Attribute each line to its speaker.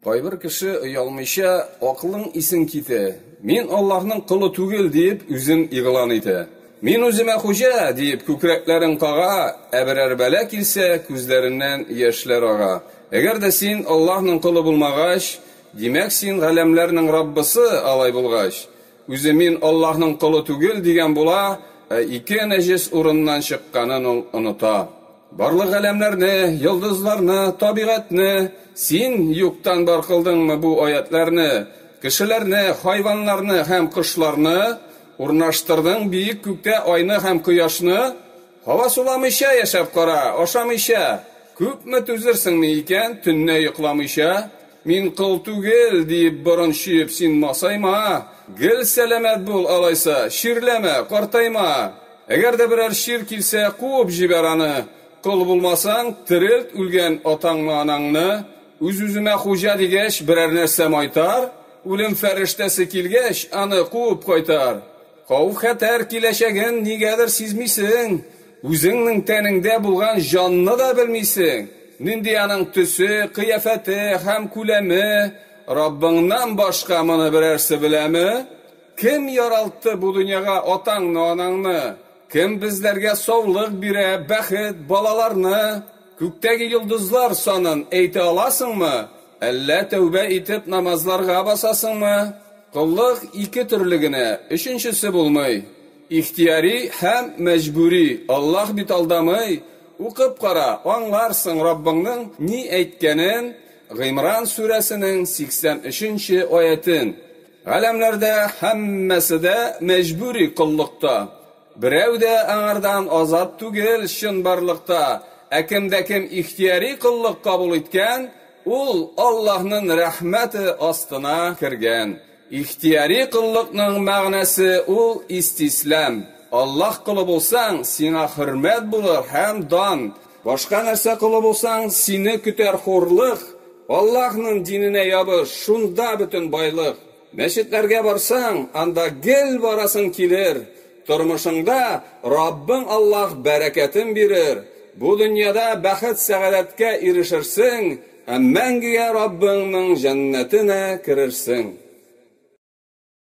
Speaker 1: Кайбер кеше оялмыйча акылың исең китә. Мин Аллаһның колы түгел дип үзен игълан итә. Мин үземә хуҗа дип күкрәкләрен кага, ә берәр бәла килсә, күзләреннән яшьләр ага. Әгәр дә син Аллаһның колы булмагач, димәк син галәмләрнең Раббысы, алай булгач, үзе мин Аллаһның колы түгел дигән була, ә ике нәҗес урыннан чыкканын ул оныта. Барлык галәмнәрне, йолдызларны, табигатьне Син юктан бар кылдыңмы бу аятьләрне? Кешеләрне, хайваннарны һәм кошларны, Урнаштырдың биек күктә айны һәм кояшны? Һава суламыйча яшәп кара, ашамыйча, Күпме түзерсеңме икән, төнне йокламыйча? Мин кол түгел, диеп борын чөеп син масайма, гел сәламәт бул, алайса, чирләмә, картайма. Әгәр дә берәр чир килсә, куып җибәр аны. Кол булмасаң, терелт үлгән атаңны-анаңны. Үз-үземә хуҗа дигәч, берәр нәрсә майтар, үлем фәрештәсе килгәч, аны куып кайтар. Хауф-хәтәр киләчәген нигәдер сизмисең. Үзеңнең тәнеңдә булган җанны да белмисең, нинди аның төсе, кыяфәте һәм күләме, Раббыңнан башка моны берәрсе беләме? Кем яралтты бу дөньяга атаңны-анаңны? Кем безләргә саулык бирә, бәхет, балаларны? Күктәге йолдызлар санын әйтә аласыңмы? Әллә тәүбә итеп намазларга басасыңмы? Коллык ике төрле генә, өченчесе булмый. Ихтияри һәм мәҗбүри, Аллаһ бит алдамый, укып кара, аңларсың Раббыңның ни әйткәнен, Гыймран сүрәсенең 83 нче аятен. Галәмләрдә һәммәсе дә мәҗбүри коллыкта. Берәү дә аңардан азат түгел чынбарлыкта, ә кемдә кем ихтияри коллык кабул иткән, ул Аллаһнын рәхмәте астына кергән. Ихтияри коллыкның мәгънәсе ул истислам. Аллаһ колы булсаң, сиңа хөрмәт булыр һәм дан. Башка нәрсә колы булсаң, сине көтәр хурлык. Аллаһның диненә ябыш, шунда бөтен байлык. Мәчетләргә барсаң, анда гел барасың килер. Тормышыңда Раббың Аллаһ бәрәкәтен бирер. Бу дөньяда бәхет-сәгадәткә ирешерсең. Һәм мәңгегә Раббыңның җәннәтенә керерсең.